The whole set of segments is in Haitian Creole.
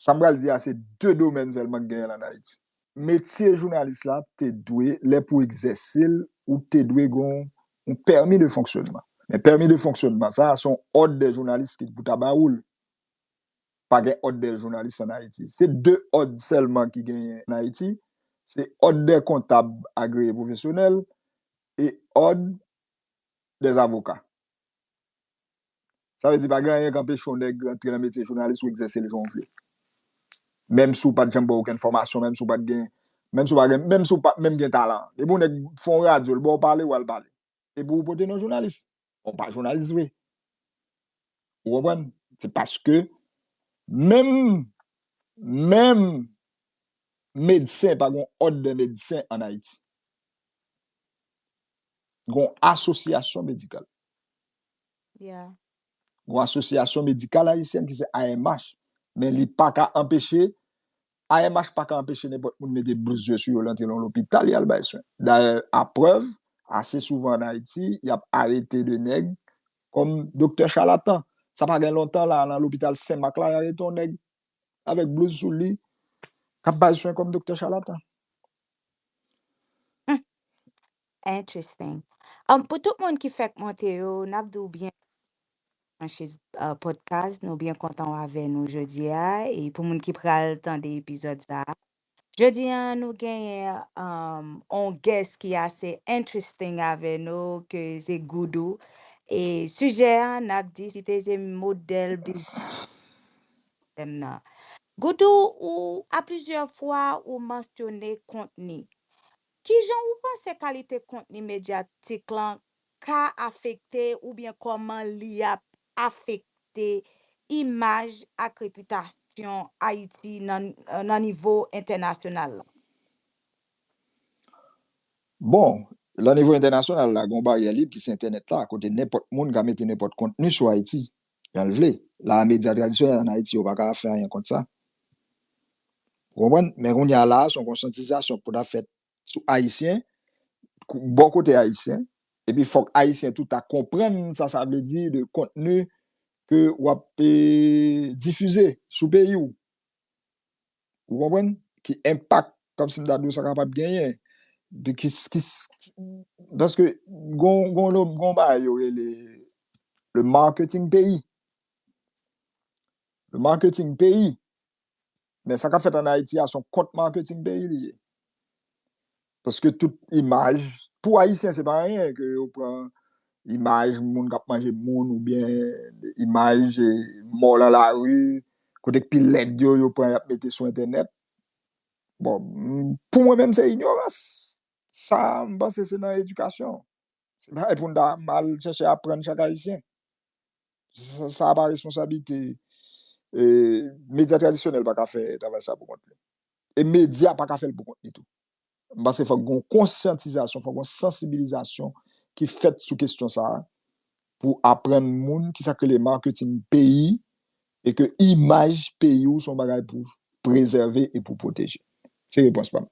Sa m pral di a se 2 domèn sèlman k genyen l an Ayiti. Metye jounalis la te dwe, lè pou egzèse l, ou te dwe gen yon pèmi de fonksyonman. Men pèmi de fonksyonman sa a se yon òd dè jounalis ki pou ta ba ou l. Pa gen òd dè jounalis an Ayiti. Se 2 òd sèlman ki genyen an Ayiti, se òd dè kontab agreye pwofesyonèl e òd dè avoka. Sa vle di pa gen anyen k anpeche yon nèg rantre nan metye jounalis ou egzèse l jan w vle. Menm si w pat janm pran okenn fòmasyon, menm si w pat gen, menm si w pa gen, menm si w pat menm gen talan an. Depi yon nèg fè yon radyo, l ba w pale, w al pale. Epi ou pote non jounalis. Bon, w pa jounalis vre. Ou konprann? Se paske menm, menm medsen pa gen yon òd dè medsen ann Ayiti. Gen yon asosyasyon medikal. Gon asosyasyon medikal ayisyèn ki se AMH, men li pa ka anpeche, AMH pa ka anpeche nenpòt moun mete blouz yo sou yo lantre nan lopital yal bay swen. Dayè a prèv, ase souvan an Ayiti, yap arete de nèg kòm doktè chalatan. Sa pa gen lontan la, nan lopital Sen Mak la, y arete yon nèg avèk blouz sou li kap bay swen kòm doktè chalatan. Humm interesting um pou tout moun ki fèk monte yo nap di w byen branche uh podcast nou byen kontan w avè nou jodia e pou moun ki pral tande epizòd sa Jodi an nou genyen um on guest ki ase interesting avè nou ke se Goudou e sijè an nap diskite se modèl biznis sistèm nan. Goudou ou a plizyè fwa ou mansyone kontni. Kijan ou panse kalite kontni medyatik lan ka afekte oubyen kòman li ap afekte imaj ak repitasyon Ayiti nan nivo entènasyonal la? Bon, lan nivo entènasyonal la, gen yon baryè lib ki se entènèt la, kote nenpòt moun ka mete nenpòt kontni sou Ayiti, jan l vle. La a, medya tradisyonèl ann Ayiti yo pa ka fè anyen kont sa. Ou konprann? Men kounye a la a, se yon konsyantizasyon k pou ta fèt sou Ayisyen, bò kote Ayisyen, epi fòk Ayisyen tou ta konprann sa sa vle di de kontni ke w ap difize sou peyi w. Ou konprann? Ki enpak, kòm si m ta di w, sa kapab genyen. Paske gon yon bagay yo rele le marketing peyi. Le marketing peyi. Men sa kap fèt an Ayiti a son kont marketing peyi li ye. Paske tout imaj, pou Ayisyen se pa anyen ke yo pran imaj moun kap manje moun ou byen imaj mò lan la ri, kote k pi lèd yo yo pran yap mete sou entènèt. Bon, pou mwen menm se inyorans. Sa m panse se nan edikasyon. Se bagay pou n ta mal chèche aprann chak Ayisyen. sa pa responsabilite medya tradisyonèl pa ka fè travay sa pou kont li e medya pa ka fè l pou kont li tou m panse fòk gon konsyantizasyon fòk gon sansibilizasyon ki fèt sou kestyon sa pou aprann moun ki sa k rele marketing peyi e ke imaj peyi w son bagay pou prezève e pou pwoteje se repons pa m.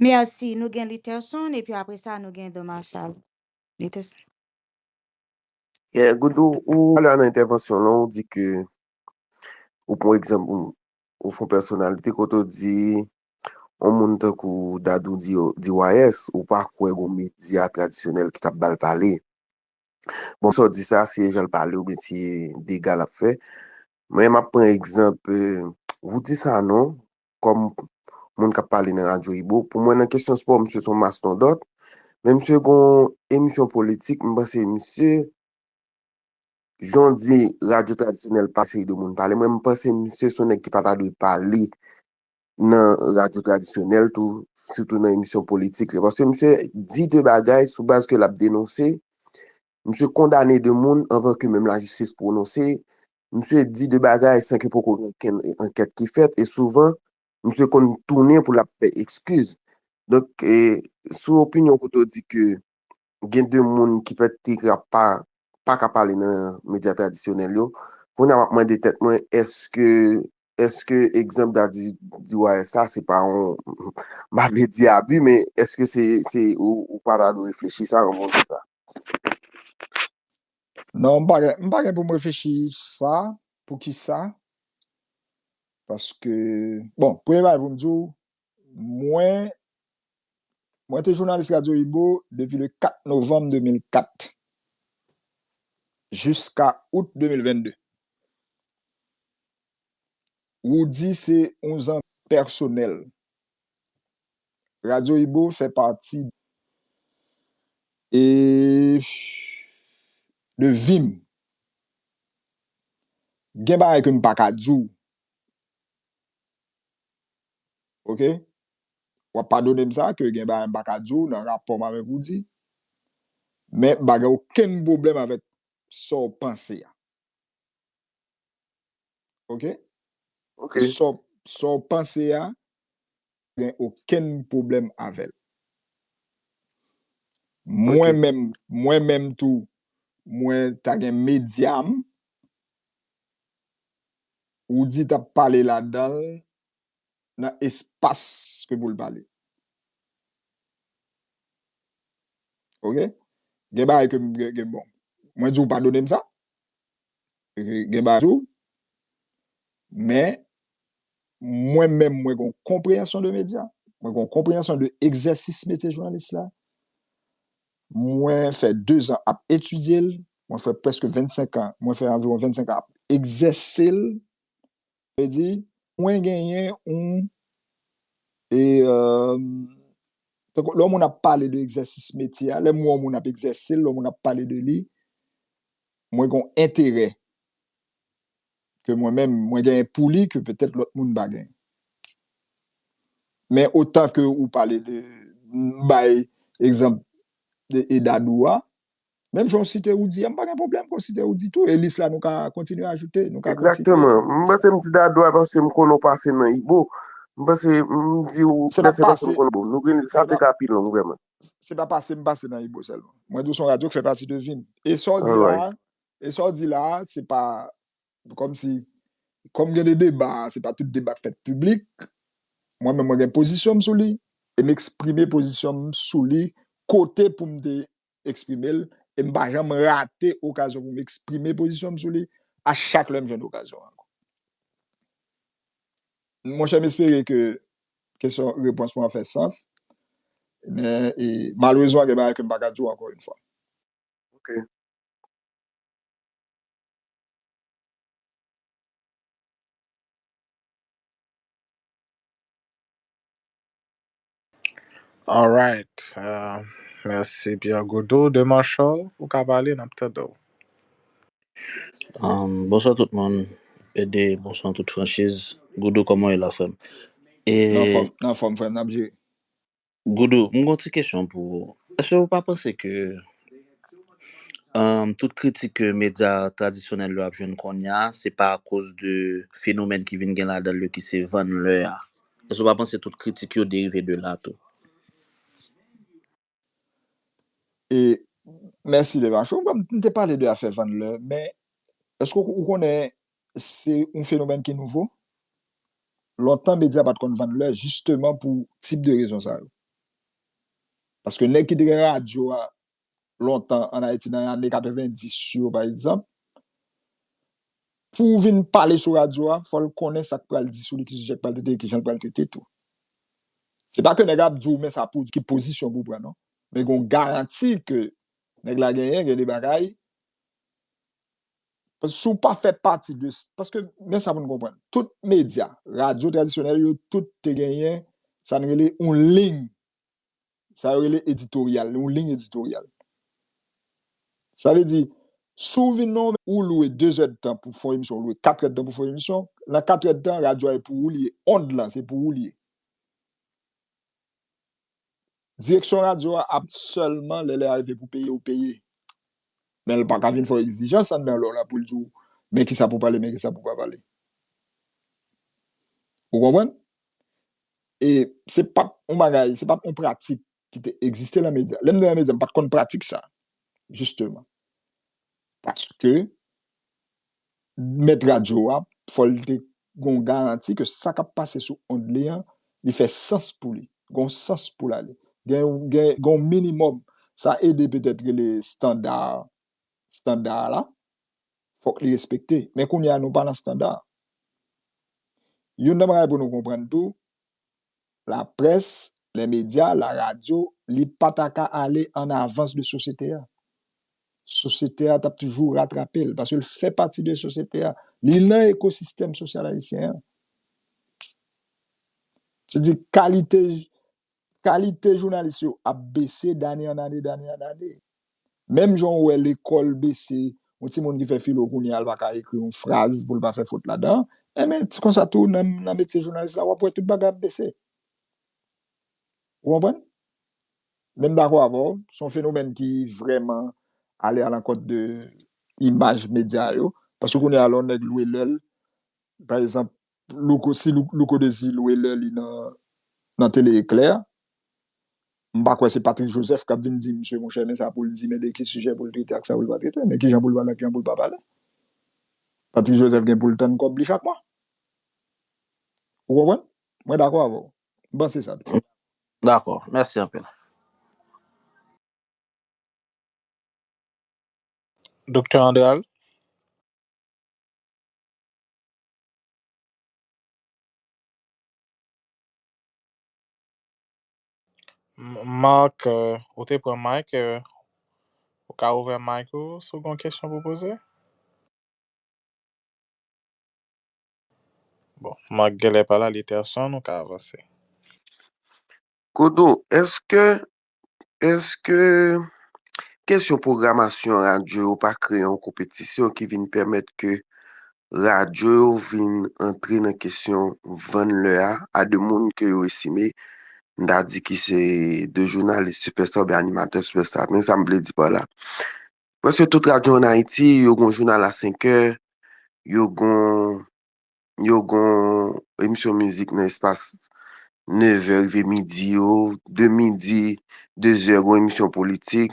Merci nou gen Lutherson epi apresa nou gen Don Marshall. Li te. Yeah, Goudou, ou pale nan entèvansyon lan, ou di ke, ou pran egzanp, ou fon pèsonalite kote ou di, yon moun tankou Dadou DYS, ou pa kwè gon medya tradisyonèl ki t ap ba l pale. Bon, sa w di sa, se jan l pale oubyen se dega l ap fè. Men m ap pran egzanp, Roudy Sanon, kòm moun k ap pale nan radyo Ibo. Pou mwen nan kesyon spò misye se yon mastondòt, men misye gen yon emisyon politik m panse misye, jan w di radyo tradisyonèl pa seri de moun pale, mwen m panse misye se yon nèg ki pa ta dwe pale nan radyo tradisyonèl tou, sitou nan emisyon politik li. Paske misye di de bagay sou baz ke l ap denonse, Misye kondane 2 moun anvan ke menm lajistis pwononse. Misye di 2 bagay san ke poko gen okenn ankèt ki fèt e souvan misye konn tounen pou l ap fè ekskiz. Donk, sou opinyon kote ou di ke gen 2 moun ki pèt te ka pa pa ka pale nan medya tradisyonèl yo, kounye a m ap mande tèt mwen èske èske egzanp Daddy DYS la se pa yon m pa vle di abi men èske se se ou pa ta dwe reflechi sa anvan ou di sa? Non, m pa gen, m pa gen pou m reflechi sa, pou ki sa, paske, bon, premye bagay pou m di w, mwen, mwen te jounalis Radio Ibo depi le 4 novanm 2004, jiska out 2022. Roody se yon zanmi pèsonèl Radyo Ibo fè pati de vi m. Gen bagay ke m pa ka di w. Ok? W ap padone m sa ke gen bagay m pa ka di w nan rapò m avèk Roody. Men m pa gen okenn pwoblèm avèk sa w panse a. Ok? Ok. Sa w panse a, pa gen okenn pwoblèm avè l. Mwen menm, mwen menm tou, mwen ta gen medya m, ou di ta pale ladan l, nan espas ke pou l pale. Ok? Gen bagay ke m, ke bon, mwen di w padone m sa, gen bazo men mwen menm mwen gon konpreyansyon de medya mwen gon konpreyansyon de egzèsis metye jounalis la mwen fè 2 zan ap etidye l mwen fè preske 25 an mwen fè anviwon 25 an ap egzèse l Vle di, mwen genyen yon, e, tankou lè yon moun ap pale de egzèsis metye a, lè m wè yon moun ap egzèse l, lè yon moun ap pale de li, mwen gen yon enterè ke mwen menm mwen genyen pou li ke petèt lòt moun pa genyen. Men otan ke ou pale de, m bay egzanp de Edadou a, Menm jan w site Roody a, m pa gen pwoblèm pou w site Roody tou. E lis la nou ka kontinye ajoute, nou ka kontinye. Egzakteman. M panse m di Dadou a paske m konnen w pase nan Ibo. M panse m di w Dèfè paske m konnen Ibo. Nou gen sa te ka pi long vrèman. Se pa pase m pase nan Ibo sèlman. Mwen di w se yon radyo ki fè pati de vi m. E sa w di la a, e sa w di la a, se pa kòm si, kòm gen de deba, se pa tout deba k fèt piblik. Mwen menm mwen gen pozisyon m sou li e m eksprime pozisyon m sou li kote pou m te eksprime l, e m pa janm rate okazyon pou m eksprime pozisyon m sou li, a chak lè m jwenn okazyon an. Mon chè, m espere ke kesyon, repons mwen an fè sans, men, e, malerezman gen bagay ke m pa ka di w ankò yon fwa. Ok. Alright Mèsi Pierre Gaudreau Dema Charles ou ka pale nap tande w. Bonswa tout moun PD bonswa tout franchiz Goudou kòman w ye la frèm e Nan fòm frèm nap jere. Goudou m gon ti kesyon pou ou èske ou pa panse ke tout kritik ke medya tradisyonèl yo ap jwenn kounya se pa akoz de fenomèn ki vin gen ladan l yo ki se vann lè a. Èske w pa panse tout kritik yo derive de la tou? E, mèsi Levanche. Ou kwè m te pale de afè vann lè, men èske ou konnen se yon fenomèn ki nouvo? Lontan medya pa t konn vann lè jisteman pou tip de rezon sa yo. Paske nèg ki te gen radyo a lontan an Ayiti nan ane 90 yo pa egzanp, pou vin pale sou radyo a, fò l konnen sa k pral di sou li, ki sijè k pral trete, ki jan l pral trete tou. Se pa ke nèg la ap di w men sa pou w di, ki pozisyon pou w pran non. Men gen yon garanti ke nèg la genyen, gen de bagay, si w pa fè pati de, paske men sa pou n konprann, tout medya, radyo tradisyonèl yo, tout te genyen sa n rele yon ling Sa yo rele editoryal, yon liy editoryal. Sa vle di, si w vin nan yon, ou lwe dezèdtan pou fon emisyon, ou lwe katrèdtan pou fon emisyon, nan katrèdtan, radyo a e pou ou li ye, ond lan se pou ou li ye. Direksyon radyo a ap sèlman lè lè a rive pou peye ou peye. Men l pa ka vin fè w egzijans anndan lè w la pou l di w men kisa pou w pale, men kisa pou w pa pale. Ou konprann? e se pat yon bagay, se pat yon pratik ki te egziste nan medya, lèm te nan medya m pat konn pratik sa jisteman paske mèt radyo a fòl te gon garanti ke sa kap pase sou ond li an li fè sans pou li, gon sans pou lale gen yon minimòm, sa ede petèt rele standard standa a la, fòk li respekte. Men kounye a nou pa nan standa a. Youn nan bagay pou nou konprann tou, laprès, lè medya, la radyo, li pa ta ka ale an avans de sosyete a. Sosyete a t ap toujou ratrape l, paske l fè pati de sosyete a. Li nan ekosistèm sosyal ayisyen an. Se di kalite Kalite jounalis yo ap bese dane an ane, dane an ane. Menm jan ou wè lekòl bese, yon timoun ki fè filo kounye a, l pa ka ekri yon fraz pou l pa fè fot ladan, enben, se konsa tou nan metye jounalis la, w ap wè tout bagay ap bese. Ou konprann? Men m dakò avè w, se yon fenomèn ki vrèman ale alankont de imaj medya yo, paske kounye a lè yon nèg lwe lè l, pa egzanp, Louko si louko dezi lwe lè li nan tele eklè m pa kwè se Patrick Joseph kap vin di misye monchè men sa poul di men de ki sijè poul trete ak sa poul pa trete men kijan poul pale ak kijan poul pa pale Patrick Joseph gen poul tann kòb li chak mwa ou konprann mwen dakò avèw m panse sa tou. Dakò mèsi anpil. Doktè Andral. Marc ou te pran mic e ou ka ouvè mic ou si w gen yon kesyon pou poze. Bon, Marc genlè pa la, li te absent, nou ka avanse. Kodo, eske Eske kesyon pwogramasyon radyo yo pa kreye yon konpetisyon ki vin pèmèt ke radyo yo vin antre nan kesyon vann lè a, a de moun ke yo estime, m ta di ki se de jounalis sipèsta oubyen animatè sipèsta. Men sa m vle di pa la, prèske tout radyo an Ayiti yo gen yon jounal a senkè, yo gen yon. yo gon emisyon mizik nan espas 9 è rive midi yo, de midi, 2 zè gon emisyon politik,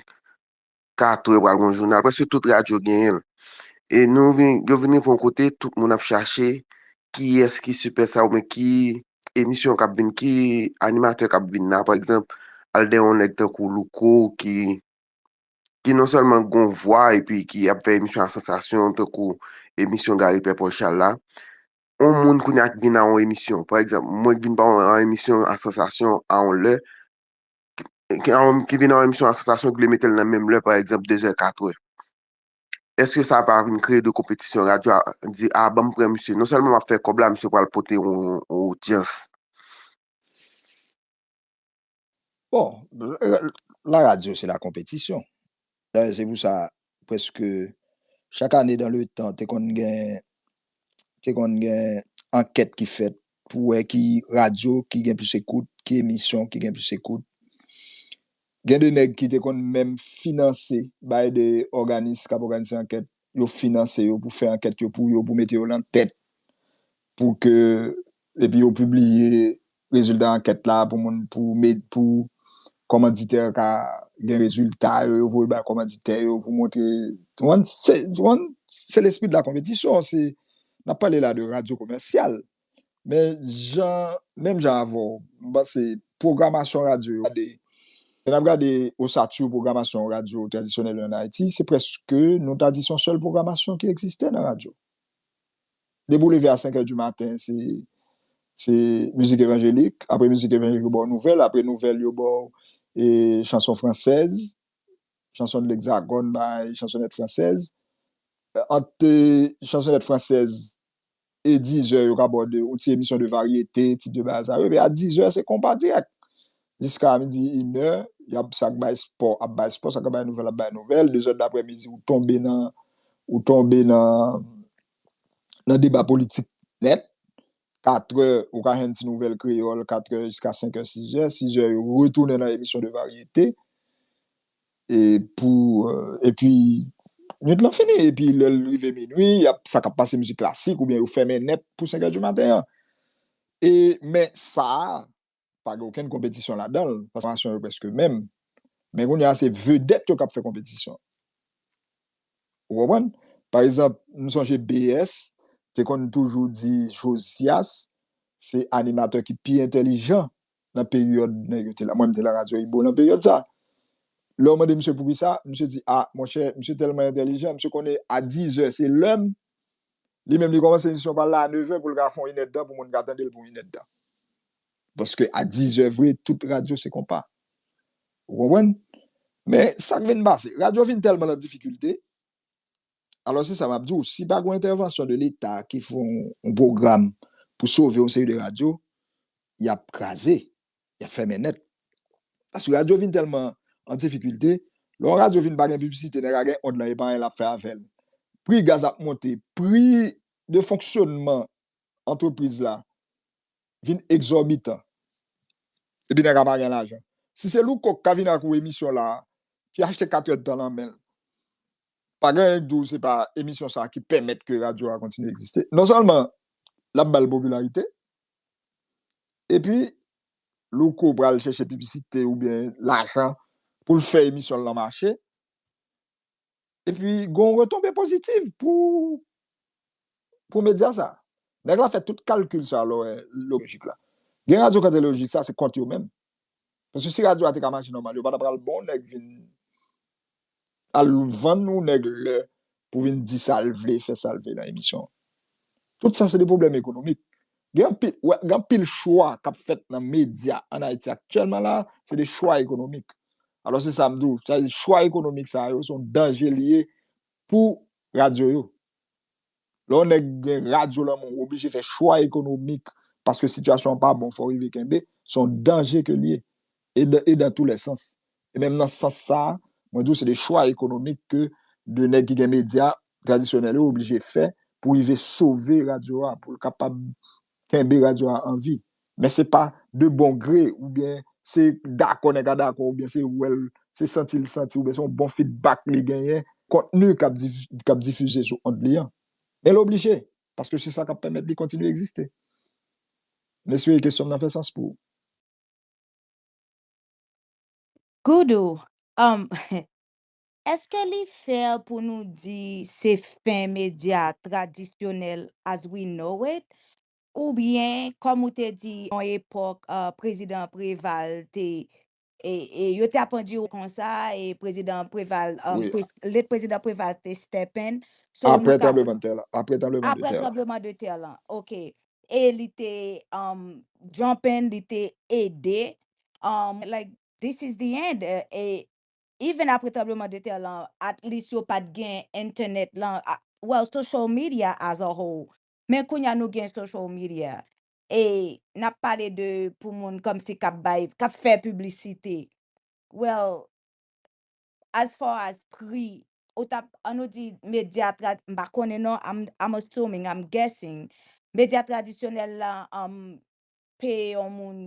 4 è pral gon jounal, prèske tout radyo genyen l. E nou vin, yo vin rive yon kote tout moun ap chache kiyès ki sipè sa oubyen ki emisyon k ap vin, ki animatè k ap vin la. Pa egzanp, al de yon nèg tankou Louko ki ki non sèlman gon vwa epi ki ap fè emisyon a sansasyon tankou emisyon Gary Pè Paul Charles la, on moun kounye a k vin nan on emisyon, pa egzanp, mwen k vin pa on emisyon a sansasyon a on lè, ki vin nan on emisyon a sansasyon ki vle mete l nan menm lè pa egzanp dezè, katwè. Èske sa pa vin kreye de konpetisyon, radyo a di a banm pran misye, non sèlman m ap fè kòb la misye pral pote on odyans. Bon, la radyo se la konpetisyon. Dayè se pou sa prèske chak ane dan le tan te konn gen te konn gen ankèt ki fèt pou wè ki radyo ki gen plis ekout, ki emisyon ki gen plis ekout. Gen de nèg ki te konn menm finanse bay de òganis k ap òganize ankèt yo finanse yo pou fè ankèt yo pou yo, pou mete yo lan tèt, pou ke, epi yo pibliye rezilta ankèt la pou moun, pou med, pou kòmanditè ka gen rezilta yo, yo voye bay kòmanditè yo pou montre, ou konn, se lespri de la konpetisyon, se, n ap pale la de radyo komèsyal. Men jan, menm jan avè w, m panse pwogramasyon radyo yo, gade, lè n ap gade osatu pwogramasyon radyo tradisyonèl yo ann Ayiti, se prèske, nou ta di se yon sèl pwogramasyon ki egziste nan radyo. Depi w leve a senkè di maten, se, se mizik evanjelik, apre mizik evanjelik yo ba w nouvèl, apre nouvèl yo ba w e chanson fransèz, chanson de l'hexagone bay chansonèt fransèz, ant chansonèt fransèz E dizè yo ka ba w de yon ti emisyon de varyete, ti de bagay sa yo. Epi a dizè se konpa dirèk. Jiska midi, inè, y ap sa k bay espò ap bay espò, sa k ap bay nouvèl ap bay nouvèl. Dezè daprè midi ou tonbe nan, ou tonbe nan nan deba politik nèt. Katrè ou ka jwenn ti nouvèl kreyòl, katrè jiska senkè, sizè. Sizè yo retounen nan emisyon de varyete. E pou epi nwit lan fini epi lè l rive minui y ap sa k ap pase mizik klasik oubyen yo fèmen nèt pou senkè di maten an. E men sa a pa gen okenn konpetisyon ladan l paske pwogramasyon yo prèske menm. Men kounye a se vedèt yo k ap fè konpetisyon. Ou konprann? Pa egzanp, m sonje BS te konn toujou di Josias se animatè ki pi entèlijan nan peryòd nèg yo te la. Mwen m te nan Radyo Ibo nan peryòd sa a. Lè w mande misye pou ki sa, misye di, a, monchè, misye tèlman entèlijan, misye konnen a dizè se lè m, li menm li kòmanse emisyon pa l la a nevè pou l ka fè yon inèdtan pou moun ka tande l pou yon inèdtan. Paske a dizè vre, tout radyo se konpa. Ou konprann? Men, sa k vin pase? Radyo vin tèlman nan difikilte, Alò se sa map di w, si pa gon entèvansyon de leta ki fè yon pwogram pou sove yon seri de radyo, yap kraze, yap fèmen nèt. Paske radyo vin tèlman an difikilte, lè yon radyo vin pa gen piblisite nèg la gen ond lan e pa anyen lap fè avè l. Pri gaz ap monte, pri de fonksyonman antrepriz la vin egzòbitan epi nèg la pa gen lajan si se louko ki ta vin ak ou emisyon la ki achte katyèt dan lan menl pa gen anyen ki di w se pa emisyon sa ki pèmèt ke radyo a kontinye egziste non sèlman lap bal popilarite epi louko pral chèche pibisite oubyen lajan poul fè emisyonl lan mache. epi gon retonbe pozitiv pou pou medya sa nèg la fè tout kalkil sa lò wè lojik la gen radyo kante lojik sa se kont yo menm paske si radyo a te ka mache nòmal yo pa ta pral bon nèg vin al vann yon nèg lè pou vin di sal vle fè sal vle nan emisyon tout sa se de pwoblèm ekonomik Gen anpil, wè, gen anpil chwa k ap fèt nan medya ann Ayiti aktyèlman la a, se de chwa ekonomik. Alò se sa m di w, sa vle di chwa ekonomik sa yo, se yon danje li ye pou radyo yo. Lè yon nèg gen radyo lan men w, ou oblije fè chwa ekonomik paske sitiyasyon an pa bon, fò w rive kenbe, se yon danje ke l ye e dan tou lè sans. E menm nan sans sa a, mwen di w se de chwa ekonomik ke de nèg ki gen medya tradisyonèl yo oblije fè pou rive sove radyo a, pou l kapab kenbe radyo a an vi. Men se pa de bon gre oubyen se dakò nèg la dakò oubyen se wè l, se santi l santi oubyen se yon bon fidbak li genyen kontni k ap difize sou ond li an. Men l oblije, paske se sa k ap pèmèt li kontinye egziste. M espere kesyon m nan fè sans pou ou. Goudou um eske li fair pou nou di se fen media tradisyonel as we know it ou byen kom ou te di yon epok prezidan Preval te e yo te apan di konsa e prezidan Preval um le prezidan Preval te step in so nou ka Apre tranbleman tè la apre tranbleman de tè la Apre tranbleman de tè la ok e li te um jump in li te ede like this is the end e even apre tranbleman de tè lan at least yo pat gen entenet lan well social media as a whole men kounya nou gen social media e nap pale de pou moun kòmsi kap bay kap fè piblisite well as far as pri ou tap an nou di medya trad m pa konnen non I'm assuming I'm guessing medya tradisyonèl lan peye yon moun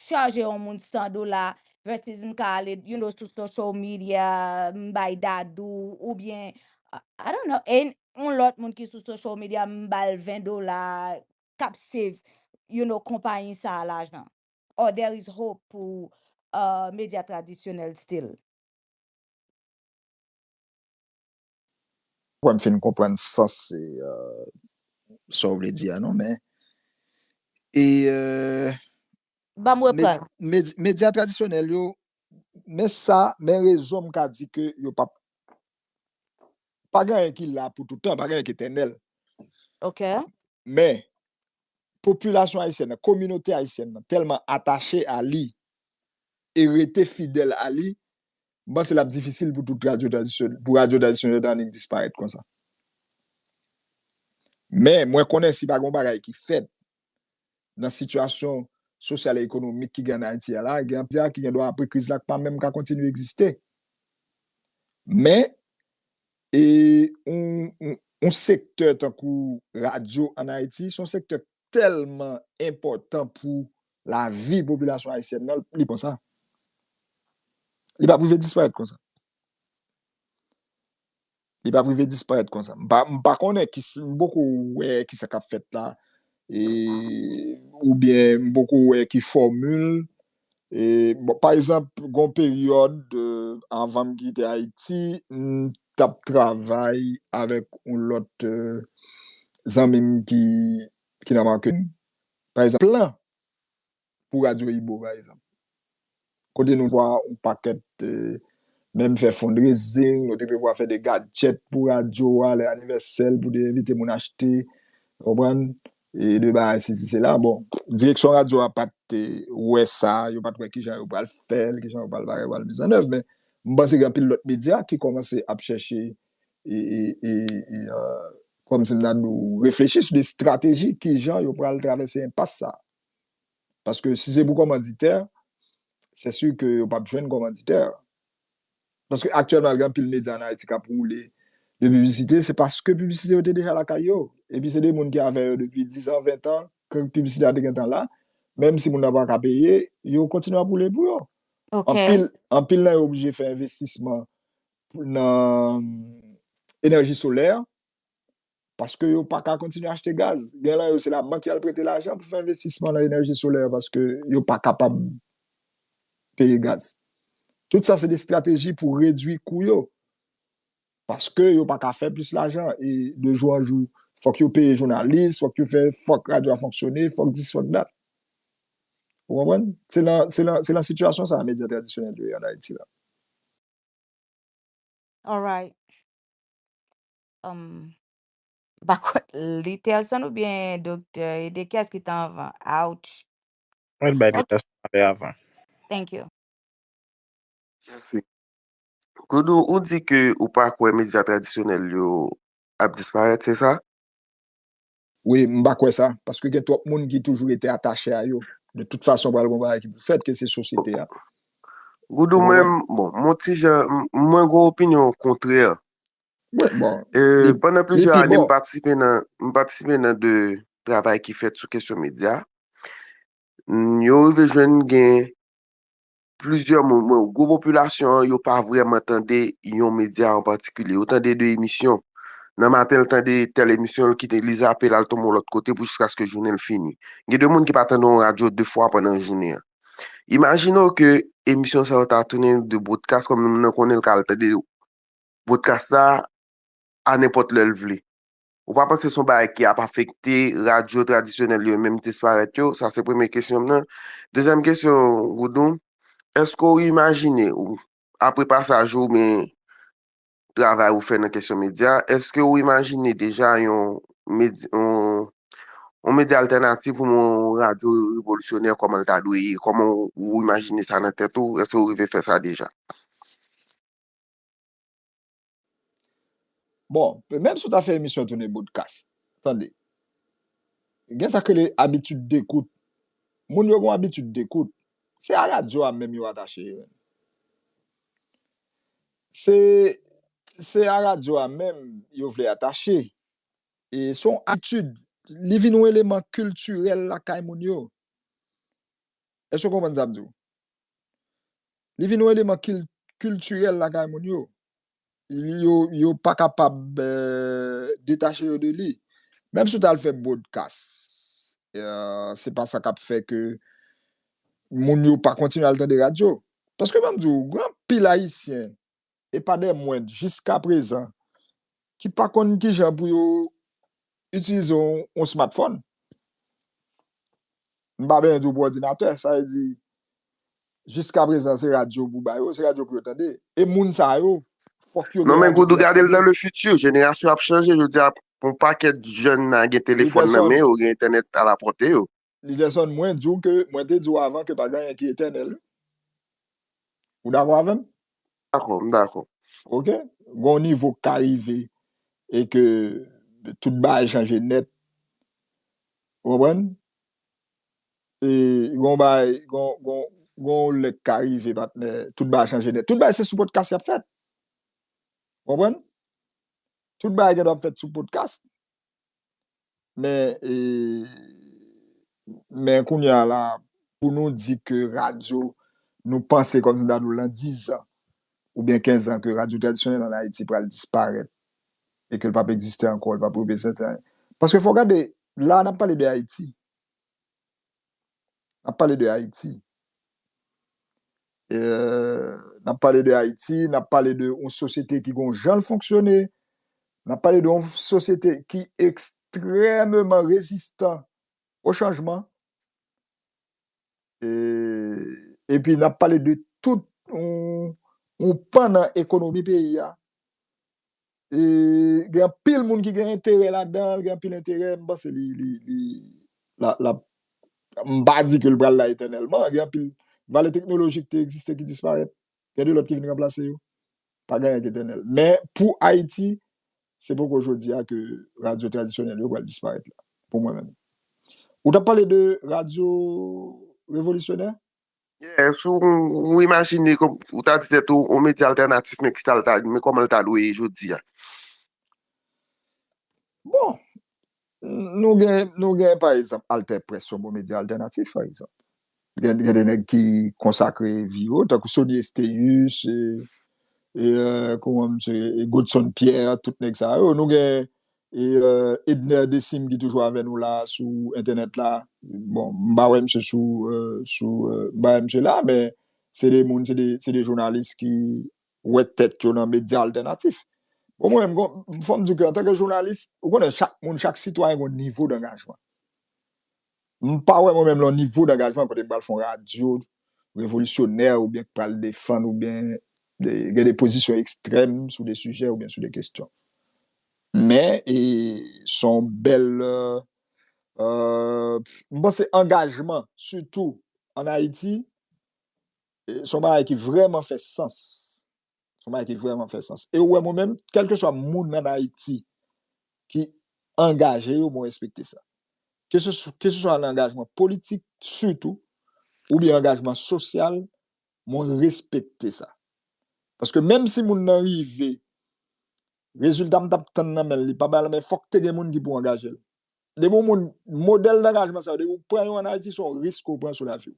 chaje yon moun 100 dola versus m ka ale you know sou social media m bay Dadou oubyen I don't know any yon lòt moun ki sou social media m ba l 20 dola k ap save you know konpayi sa a lajan or there is hope pou uh medya tradisyonèl still. Mwen fin konprann sans sa w vle di a non men medya tradisyonèl yo men sa men rezon m ka di ke yo pap pa gen anyen ki la pou toutan pa gen anyen ki etènèl men popilasyon ayisyèn nan, kominote ayisyèn nan tèlman atache a li e rete fidèl a li, m panse l ap difisil pou tout radyo tradisyonèl, pou radyo tradisyonèl ta annik disparèt konsa. Men, mwen konnen si pa gen yon bagay ki fèt nan sitiyasyon sosyal e ekonomik ki gen ann Ayiti a la, gen anpil radyo ki gendwa apre kriz la k pa menm ka kontinye egziste. Men, E yon sektè tankou radyo an Ayiti, se yon sektè ki tèlman enpòtan pou lavi popilasyon ayisyèn nan, li pa konsa. Li pa pou rive disparèt konsa. Li pa pou rive disparèt konsa. M pa konnen, m poko wè ki sa k ap fèt la, e oubyen m poko wè ki fòmil Bon, pa egzanp, gen yon peryòd anvan m kite Ayiti, m t ap travay avèk yon lòt zanmi m ki nan marketing, pa egzanp, plan pou radyo Ibo, pa egzanp, kote nou vwa yon pakèt, menm fè fundraising, nou te prevwa fè de gadjèt pou radyo a, lè anivèsè l, pou te envite moun achte, ou konprann? e de bagay sesi sela bon direksyon radyo a pat wè sa yo pat wè kijan yo pral fèl kijan yo pral bagay pral mizannèv men m panse gen anpil lòt medya ki kòmanse ap chèche e kòm si m ta di w reflechi sou de estrateji kijan yo pral travèse enpas sa paske si se pou kòmanditè sesi ke yo pap jwenn kòmanditè Paske aktyèlman gen anpil medya an Ayiti k ap woule de piblisite, se paske piblisite yo te deja lakay yo. Epi se de moun ki avè yo depi dizan, ventan, ke piblisite a te gentan la. Menm si moun nan pa ka peye, yo kontinye ap woule pou yo. Anpil, anpil nan yo oblije fè envestisman nan enèji solè, paske yo pa ka kontinye achte gaz. Gen lan yo se la bank yal prete lajan pou fè envestisman nan enèji solè paske yo pa kapab peye gaz. Tout sa se de strateji pou redwi kou yo paske yo pa ka fè plis lajan e de jou an jou fòk yo peye jounalis, fòk yo fè fòk radyo a fonksyone, fòk dis fòk dat. Ou konprann? Se lan se lan se lan sitiyasyon sa medya tradisyonèl yo ye an Ayiti la. Alright. Humm m pa kwè Literson ou byen Doktè Ede kiyès ki t anvan ouch Mwen t bay ok Literson pale avan. thank you. Mèsi. Goudou ou di ke ou pa kwè medya tradisyonèl yo ap disparèt se sa? Wi, m pa kwè sa, paske gen twòp moun ki toujou rete atache a yo. De tout fason pral gon bagay ki pou fèt ke se sosyete a. Goudou mwen, bon, m on ti jan, mwen gon opinyon kontrè. Wi, bon, li pi bon. Pandan plizyè ane m patisipe nan, m patisipe nan de travay ki fèt sou kesyon medya. Yo rive jwenn gen. Plizyè moun, mwen, gwo popilasyon an, yo pa vrèman tande yon medya an patikilye. Yo tande de emisyon. Nan maten, l tande tèl emisyon, l kite, li zape, l al tonbe yon lòt kote pou jiskaske jounen l fini. Gen de moun ki pa tande yon radyo de fwa pandan jounen an. Imajine w ke emisyon sa yo ta tounen de bwodkas, kòm moun nan konnen l ka al tande bwodkas sa a nenpòt lè l vle. Ou pa panse son bagay ki ap afekte radyo tradisyonèl yo menm disparèt yo? Sa se premye kesyon m nan. Dezyèm kesyon Goudon, èske ou imajine ou, apre pasaj ou oubyen travay ou fè nan kesyon medya, èske ou imajine deja yon medya altènatif oubyen yon radyo revolisyonè kòman l ta dwe ye? Kòman ou imajine sa nan tèt ou? Èske ou rive fè sa deja? Bon, menm si w ta fè emisyon an tounen bodkas, tande, gen sa k rele abitid dekout. Moun yo gen yon abitid dekout. Se a radyo a menm yo atache yo. Se, se a radyo a menm yo vle atache. E se yon abitid. Li vin yon eleman kiltirèl lakay moun yo. Èske w konprann sa m di w? Li vin yon eleman kiltirèl lakay moun yo. Yo pa kapab detache yo de li. Menm si w ta al fè bwodkas, se pa sa k ap fè ke moun yo pa kontinye al tande radyo. Paske m ap di w, gen anpil Ayisyen e pa dè mwend jiska prezan ki pa konn ki jan pou yo itilize yon smartphone. M pa benyen di w pou òdinatè, sa vle di jiska prezan se radyo pou ba yo, se radyo pou yo tande. E moun sa yo, fòk yo gen radyo pou yo tande. Non men Goudou gade l nan le fiti, jenerasyon ap chanje, jodi a, yon pakèt jèn nan gen telefòn nan men yo, gen entènèt a la pòte yo. Lizerson mwen diw ke mwen te diw avan ke pa gen anyen ki etènèl wi. Ou dakò avèm? Dakò, m dakò. Ok, gen yon nivo k ka rive e ke tout bagay chanje nèt. Ou konprann? E gen yon bagay, gen yon lè k ka rive patnè, tout bagay chanje nèt. Tout bagay se sou podkas y ap fèt. Ou konprann? Tout bagay gen dwa ap fèt sou podkas. Men, men kounye a la, pou nou di ke radyo, nou panse kòm si ta dou lan 10 an, ou byen 15 an, ke radyo tradisyonèl an Ayiti pral disparèt, e ke l pap egziste ankò, l pap reprezante anyen. Paske fò gade, la a n ap pale de Ayiti, N ap pale de Ayiti. N ap pale de Ayiti, n ap pale de yon sosyete ki gon jan l fonksyone, n ap pale de yon sosyete ki ekstrememan rezistan o chanjman, e pi n ap pale de tout yon pan nan ekonomi peyi a gen anpil moun ki gen enterè ladan l, gen anpil enterè, m panse li, li, li, lap, lap, m pa di ke l pral la etènèlman, gen anpil valè teknolojik te egziste ki disparèt, gen de lòt ki vin ranplase yo, pa gen anyen ki etènèl. Men, pou Ayiti, se poko jodi a ke radyo tradisyonèl yo pral disparèt la, pou mwen menm. Ou t ap pale de radyo revolisyonè? Yes, ou imajine, ou ta di tèt ou, yon medya altènatif men kisa l ta, men kòman l ta dwe ye jodi a? Bon, nou gen, nou gen pa egzanp AlterPresse yon bon medya altènatif pa egzanp. Gen, gen de nèg ki konsakre vi yo, tankou Sony Estéus, e, e, kouman misye, Godson Pierre, tout nèg sa yo. Nou gen, E Edner Desim ki toujou avè nou la sou entènèt la. Bon, m pa wè misye sou, sou, m pa wè misye la, men se 2 moun, se 2, se 2 jounalis ki wè tèt yo nan medya altènatif. Bon mwen menm gon, fò m di w ke antanke jounalis, ou konnen chak moun, chak sitwayen gon nivo dangajman. M pa wè mwen menm lò nivo dangajman kote m pral fon radyo revolisyonè oubyen k pral defann oubyen gen de pozisyon ekstrèm sou de sijè oubyen sou de kestyon. Men e s on bèl m panse angajman sitou an Ayiti s on bagay ki vrèman fè sans. Son bagay ki vrèman fè sans. E ou wè mwen menm, kèlkeswa moun an Ayiti ki angaje yo, mwen respekte sa. Ke se sou, ke se swa nan angajman politik, sitou, oubyen angajman sosyal, mwen respekte sa. Paske menm si moun nan rive, rezilta m t ap tann nan men l, li pa bay la, men fòk te gen moun ki pou angaje l. depi yon moun, modèl dangajman sa yo, depi ou pran yo an Ayiti, son risk ou pran sou lavi ou.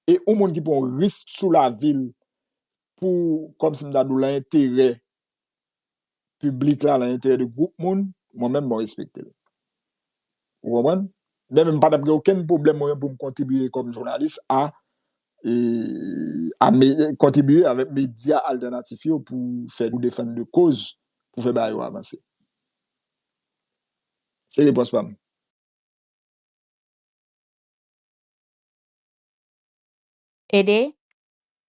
E yon moun ki pran yon risk sou lavi l pou, kòm si m ta di w, lan enterè piblik la, lan enterè de gwoup moun, mwen menm mwen respekte l. Ou konprann? Mwen menm m pa t ap gen okenn pwoblèm mwen menm pou m kontribye kòm jounalis a, kontribye avèk medya altènatif yo pou fè, pou defann de koz, pou fè bagay yo avanse. Se repons pa m. Ede?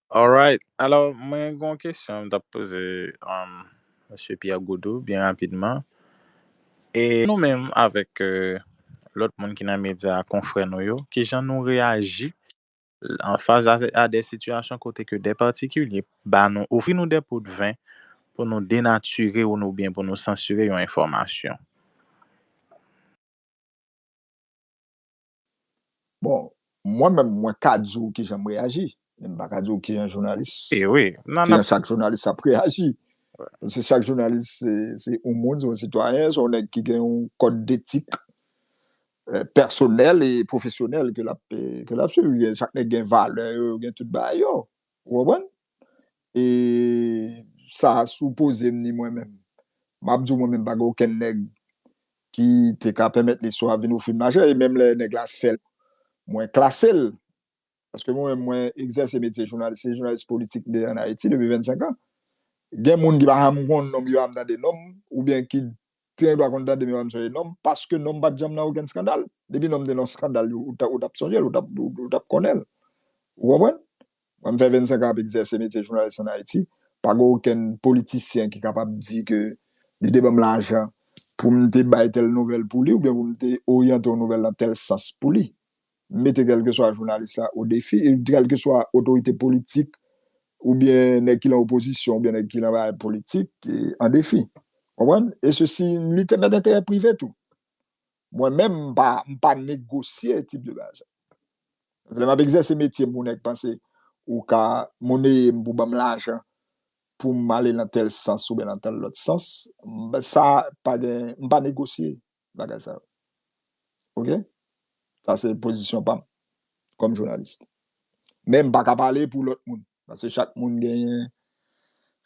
Alright, alò mwen gen yon kesyon m t ap poze Mesye Pierre Gaudou byen rapidman. E nou menm avèk lòt moun ki nan medya, konfrè nou yo, kijan nou reyaji an fas a de sitiyasyon kote ke de patikilye ba nou, ofri nou de pot ven pou nou denatire ou nou byen pou nou sansire yon enfòmasyon. Bon, mwen menm mwen ka di ou kijan m reyaji, men m pa ka di ou kijan jounalis, kijan chak jounalis ap reyaji. Paske chak jounalis se yon moun, se yon sitwayen, se yon nèg ki gen yon kòd detik pèsonèl e pwofesyonèl ke lap ke lap swiv gen chak nèg gen valè yo yo gen tout bagay yo ou konprann e sa sou pozem ni mwen menm map diw mwen menm pa gen okenn nèg ki te ka pèmèt li swa vin ofrim lajan e menm lè nèg la fèl mwen klasel paske mwen menm mwen egzèse metye jounalis, se jounalis politik m te ye an Ayiti depi 25 an, gen moun ki pa janm konn non m, ki pa janm tande non m, oubyen ki te gen dwa konn tande m, yo pa janm sonje non m, paske non m pa t janm nan okenn skandal. Depi non m te nan yon skandal, ou t ap sonje l, ou t ap konnen l. Ou konprann? Mwen m fè 25 an ap egzèse metye jounalis an Ayiti, pa gen okenn politisyen ki kapab di ke li te ban m lajan pou m te bay tèl nouvèl pou li, oubyen pou m te oryante yon nouvèl nan tèl sans pou li. mete kèlkeswa jounalis la o defi, kèlkeswa otorite politik oubyen nèg ki lan opozisyon oubyen nèg ki lan bagay politik an defi. Konprann? E sesi, li te mèt enterè prive tou. Mwen menm, m pa, m pa negosye tip de bagay sa. Lè m ap egzèse metye m pou nèg panse ou ka moneye m pou ban m lajan pou m ale lan tèl sans oubyen lan tèl lòt sans, sa pa gen, m pa negosye. bagay sa yo. Ok? Sa se pozisyon pa m kòm jounalis. Men m pa ka pale pou lòt moun. Paske chak moun genyen,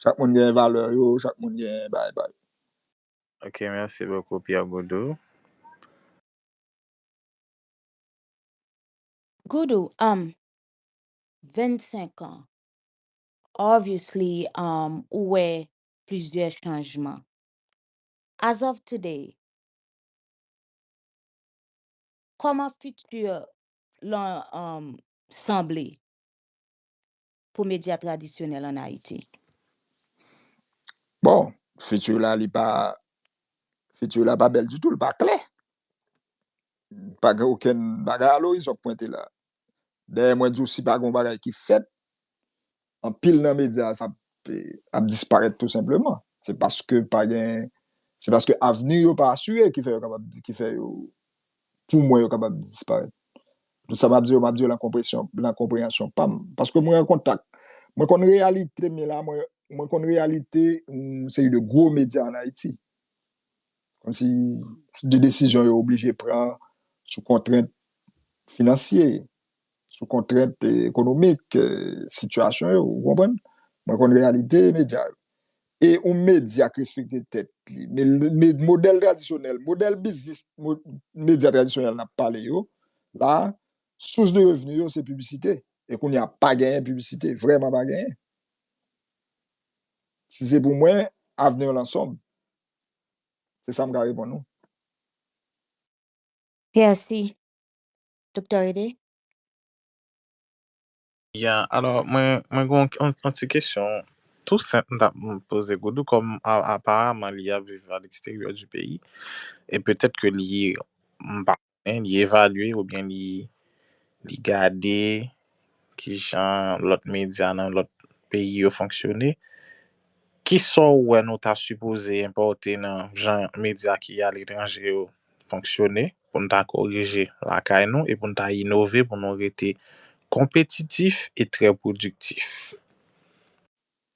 chak moun genyen valè yo, chak moun genyen bagay pa yo. Ok, mèsi bokou Pierre Goudou. Goudou, um 25 ans, obviously um ou wè plizyè chanjman. As of today, kòman fiti lan sanble pou medya tradisyonèl an Ayiti? Bon, fiti la li pa, fiti la pa bèl ditou, li pa klè. Pa gen okenn bagay alorizon k pwente la. Dayè mwen di w si pa gen yon bagay ki fèt, anpil nan medya a ap disparèt tou senpleman. Se paske pa gen, se paske avni yo pa asire ki fè yo kapab, ki fè yo, pou mwen yo kapab disparèt. Tout sa m ap di yo, m ap di yo lan konpresyon, lan konpreyansyon pa m. Paske mwen an kontak, mwen konn reyalite, mwen konn reyalite yon seri de gwo medya an Ayiti. Kòm si de desizyon yo oblije pran sou kontrent finansye, sou kontrent ekonomik sitiyasyon yo, ou konprann? Mwen konn reyalite medya yo. E yon medya k respekte tèt li, modèl tradisyonèl, modèl biznis medya tradisyonèl n ap pale yo la, sous de revni yo se piblisite. E kounye a pa genyen piblisite, vrèman pa genyen. Si se pou mwen, avni yo nan sonb. Se sa m ka reponn ou. Merci Doktè Rene. Ya, alò mwen gen yon ti kesyon tou senp m ta renmen poze Goudou kòm aparamman li ap viv aleksteryè di peyi e petèt ke li m pa li evalye oubyen li li gade kijan lòt medya nan lòt peyi yo fonksyone, kisa w wè nou ta sipoze enpòte nan jan medya ki aletranje yo fonksyone pou n ta korije lakay nou e pou n ta inove pou nou rete konpetitif e trè pwodiktif?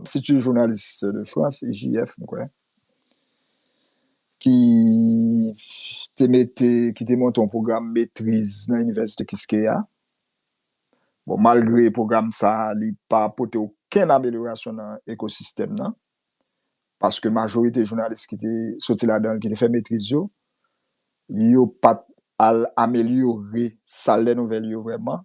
Institut Journaliste de France, IJF, m kwè, ki te mete, ki te monte yon pwogram metriz nan Inivèsite Kiskeya. Bon, malgre pwogram sa a, li pa pote okenn amelyorasyon nan ekosistèm nan, paske majorite jounalis ki te soti ladan l, ki te fè metriz yo, yo pa t al amelyore sal dè nouvèl yo vrèman,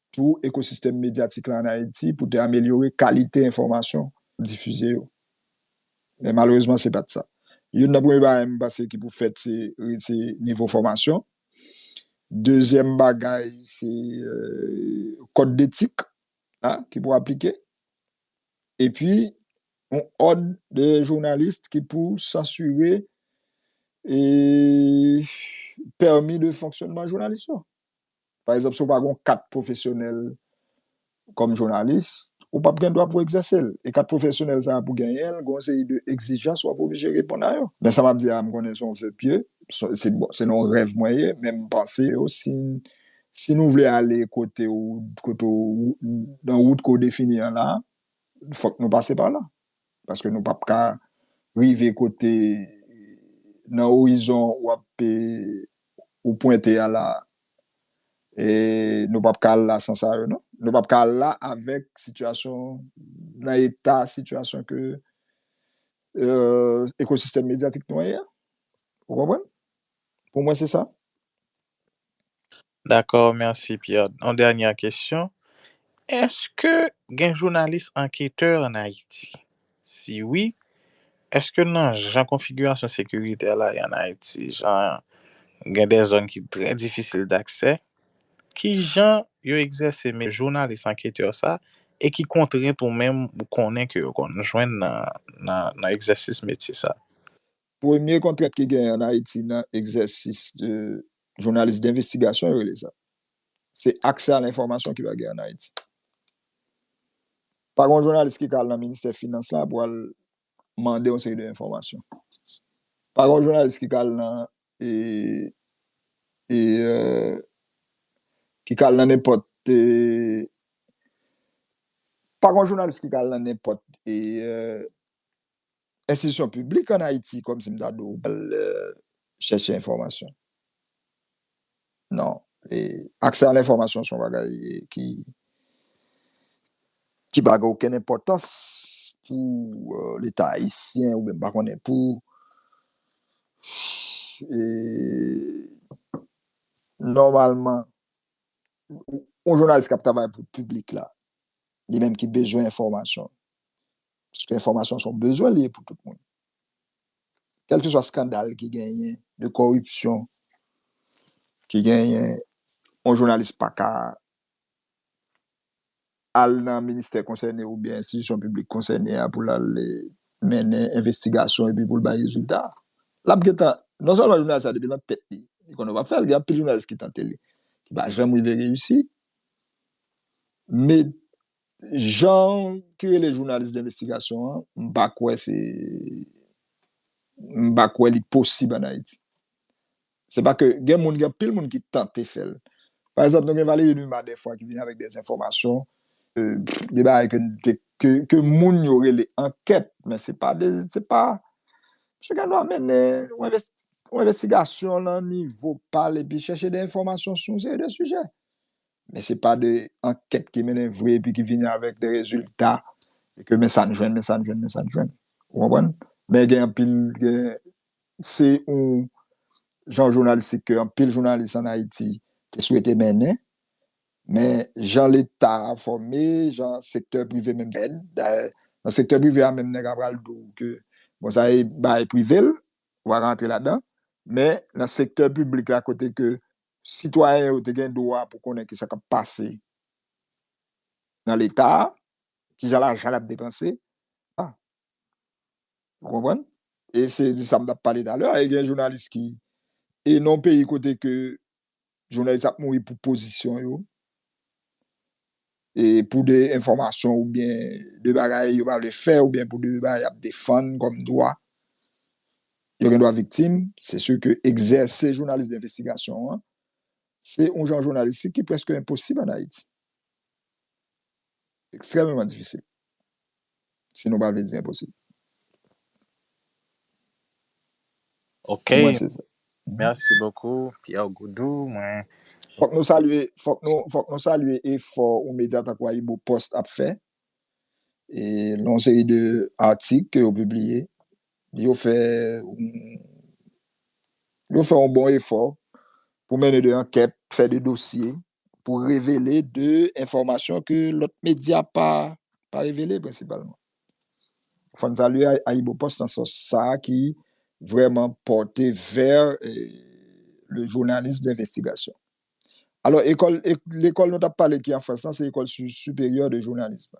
tou ekosistèm medyatik la an Ayiti pou te amelyore kalite enfòmasyon k difize yo. Men malerezman se pa t sa. Youn nan premye bagay m panse ki pou fèt se rese nivo fòmasyon. Dezyèm bagay se kòd detik a ki pou aplike. Epi yon òd de jounalis ki pou sansire e pèmi de fonksyònman jounalis yo. Pa egzanp, si w pa gen yon kat pwofesyonèl kòm jounalis, ou pap gen dwa pou w egzèse l. E kat pwofesyonèl sa a pou w genyen l, gen yon seri de egzijans w ap oblije reponn a yo. Men sa m ap di a, m konnen se yon ve pye, se nan yon rèv mwen ye, men m panse yo, si nou vle ale kote ou, nan wout ke w defini an la, fòk nou pase pa la. Paske nou pap ka rive kote nan orizon wap ou pwente a la a. E nou pap ka al la san sa yo non. Nou pap ka al la avèk sitiyasyon nan eta sitiyasyon ke ekosistèm medyatik nou an ye a. Ou konprann? Pou mwen se sa. Dakò merci Pierre. Yon dènyè kesyon, èske gen jounalis anketè an Ayiti? Si wi, èske nan jan konfigirasyon sekiritè la ye an Ayiti, jan gen de zòn ki trè difisil daksè, ki jan yo egzèse me jounalis anketè sa e ki kontrent ou menm ou konnen ke yo konn jwenn nan egzèsis metye sa? Premye kontrent ki genyen an Ayiti nan egzèsis de jounalis denvestigasyon yo rele sa, se aksè a lenfòmasyon ki pa genyen an Ayiti. Pa gen yon jounalis ki ka al nan ministè finans la pou al mande yon seri de enfòmasyon. Pa gen yon jounalis ki ka al nan ki ka al nan nenpòt pa gen yon jounalis ki ka al nan nenpòt Enstitisyon piblik an Ayiti kòm si m ta di w al chèche enfòmasyon. Non. Aksè a lenfòmasyon se yon bagay ki ki pa gen okenn enpòtans pou leta ayisyen oubyen m pa konnen pou nòmalman yon jounalis k ap travay pou piblik la li menm ki bezwen enfòmasyon Paske enfòmasyon an se yon bezwen li ye pou tout moun. Kèlkeswa skandal ki genyen de kòripsyon ki genyen, yon jounalis pa ka al nan ministè konsène oubyen enstitisyon piblik konsène a pou l al mennen envestigasyon epi pou l bay rezilta. L ap gentan, non sèlman jounalis la depi nan tèt li, li konnen w ap fè l, gen anpil jounalis ki tante li, ki pa janm rive reyisi. Men, Jan ki rele jounalis denvestigasyon an, m pa kwè se, m pa kwè li posib an Ayiti. Se pa ke, gen moun, gen anpil moun ki tante fè l. Pa egzanp, nou gen Valéry Numa dèfwa ki vini avèk dè enfòmasyon, de bagay ke n te, ke moun yo rele ankèt, men se pa de, se pa, misye gen dwa mennen yon envesti, yon envestigasyon nan nivo pa l epi chèche dè enfòmasyon sou yon seri dè sijè. Men se pa de ankèt ki mennen vre epi ki vini avèk de rezilta e ke men sa n jwenn, men sa n jwenn, men sa n jwenn. Ou konprann? Men gen anpil, gen, se yon jan jounalistik ke anpil jounalis ann Ayiti te swete mennen, men jan leta a fòme, jan sektè prive menm te fèt, dayè, nan sektè prive a menm nèg a pral di w ke bon sa e bagay prive l, ou pa ka antre ladan, men nan sektè piblik la kote ke Sitwayen yo te gen dwa pou konnen ki sa k ap pase nan Leta a, ki jan lajan l ap depanse. Ou konprann? E se de sa m t ap pale talè a, e gen jounalis ki, e nan yon peyi kote ke jounalis ap mouri pou pozisyon yo, pou de enfòmasyon oubyen de bagay yo pa vle fè oubyen pou de bagay y ap defann kòm dwa, yo gen dwa viktim, se si ke egzèse jounalis denvestigasyon an, se yon jan jounalistik ki prèske enposib an Ayiti. Ekstrèmeman difisil. Si nou pa vle di enposib. Ok, merci beaucoup Pierre Goudou mwen. Fok nou salye, fok nou, fok nou salye efò yon medya tankou Ayibo Post ap fè, e yon seri de atik ke yo pibliye, yo fè yon, yo fè yon bon efò pou mennen de ankèt, fè de dosye. pou revele de enfòmasyon ke lòt medya pa revele prensipalman. Fò n salye AyiboPost nan sans sa a ki vrèman pòte vè le journalisme d'investigation. Alò, lekòl nou t ap pale ki an Frans lan se Ecole Supérieure de Journalisme.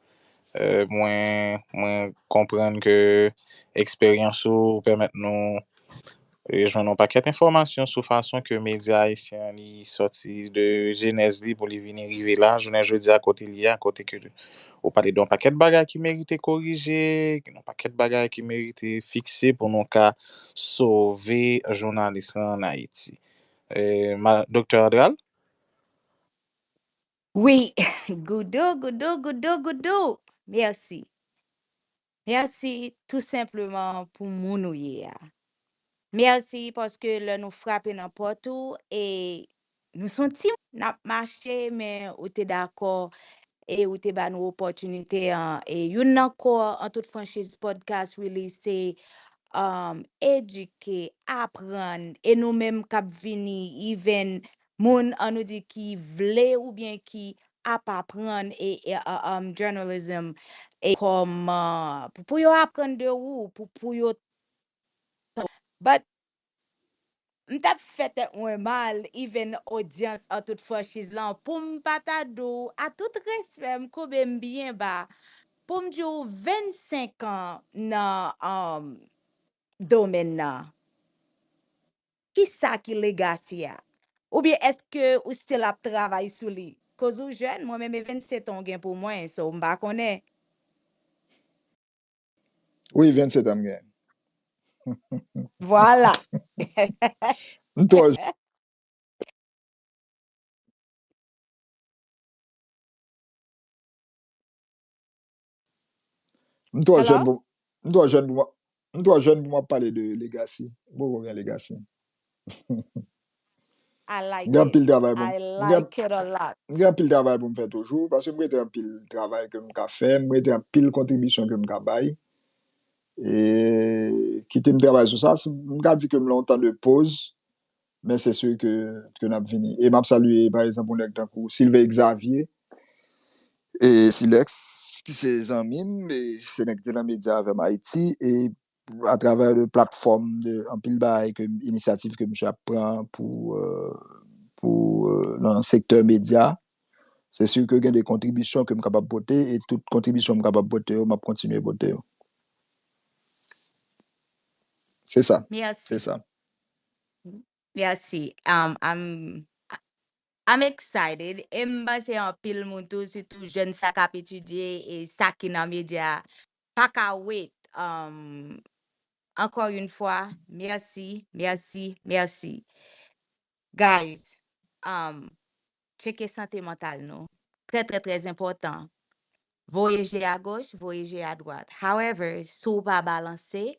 Mwen mwen konprann ke eksperyans ou pèmèt nou jwenn yon pakèt enfòmasyon sou fason ke medya ayisyen an li sòti de jenèz li pou li vini rive la jounen jodi a kote li ye a, kote ke ou pale de yon pakèt bagay ki merite korije, gen yon pakèt bagay ki merite fikse pou nou ka sove jounalis lan ann Ayiti. Doktè Andral? Wi goudou goudou goudou goudou merci merci tout simplement pou moun ou ye a merci paske lè nou frape nan pòt ou e nou son ti moun nap mache men ou te dakò e ou te ba nou opòtinite an e youn nan kò an tout franchiz podcast really se um, edike, aprann, e nou menm kap vini even Moun an nou di ki vle oubyen ki ap aprann e um journalism e kòm pou pou yo aprann de ou pou pou yo tande but m tap fè tèt mwen mal even odyans an tout franchiz lan pou m pa ta di w a tout respè m koube m byen ba pou m di w 25 an nan um domèn nan. Kisa ki legacy a? Oubyen eske ou still ap travay sou li? Koz ou jèn, mwen menm e 27 an ou gen pou mwen, so m pa konnen. Wi 27 an m gen. Vwala. M twò jèn. M twò jèn pou m twò jèn pou m m twò jèn pou m ap pale de legacy m poko gen legacy m gen anpil travay pou m m gen anpil travay pou m fè toujou paske m rete anpil travay ke m ka fè m rete anpil kontribisyon ke m ka bay e kite m travay sou sa m ka di ke m lan yon tan de poz Men se sur ke ke nap vini. E map salye pa ekzanp yon nèg tankou Sylvain Xavier e Silex ki se zanmi m e se nèg ki te nan medya avè m Ayiti e a travè de platfòm de anpil bagay ke inisyativ ke misye ap pran pou pou nan sektè medya se sur ke gen de kontribisyon ke m kapab pote e tout kontribisyon m kapab pote yo map kontinye pote yo. Se sa. Merci. Se sa. Merci. Um, I'm, I'm excited. E m panse anpil moun tou, sitou jèn sa k ap etidye e sa ki nan medya a, pa ka wait. Um, encore une fois, merci, merci, merci. Guys, um, tcheke sante mantal nou. Trè trè trè enpòtan. Voye je a goch, voye je a dwat. However, si w pa balanse,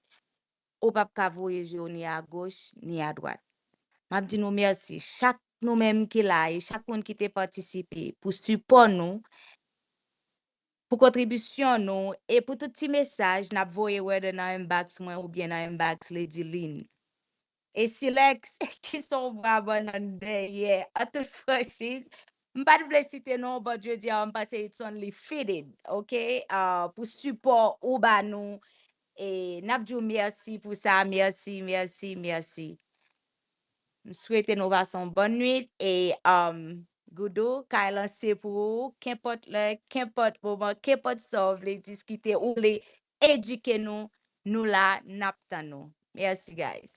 Ou pap ka voye je w ni a goch, ni a dwat. M ap di nou mèsi, chak nou menm ki la e chak moun ki te patisipe pou sipò nou, pou kontribisyon nou e pou tout ti mesaj n ap voye whether nan inbox mwen oubyen nan inbox Lady Lynn. E Silex, ki s on bra bannann dèyè, an tout franchiz, m pa t vle site non w but jodi a m panse it's only fitted, ok, pou sipò ou ba nou E nap di w merci pou sa merci merci merci m swete nou pase yon bòn nwit e um Goudou kay lan se pou ou kenpòt lè kenpòt moman kenpòt sa w vle diskite ou vle edike nou nou la nap tann ou merci guys.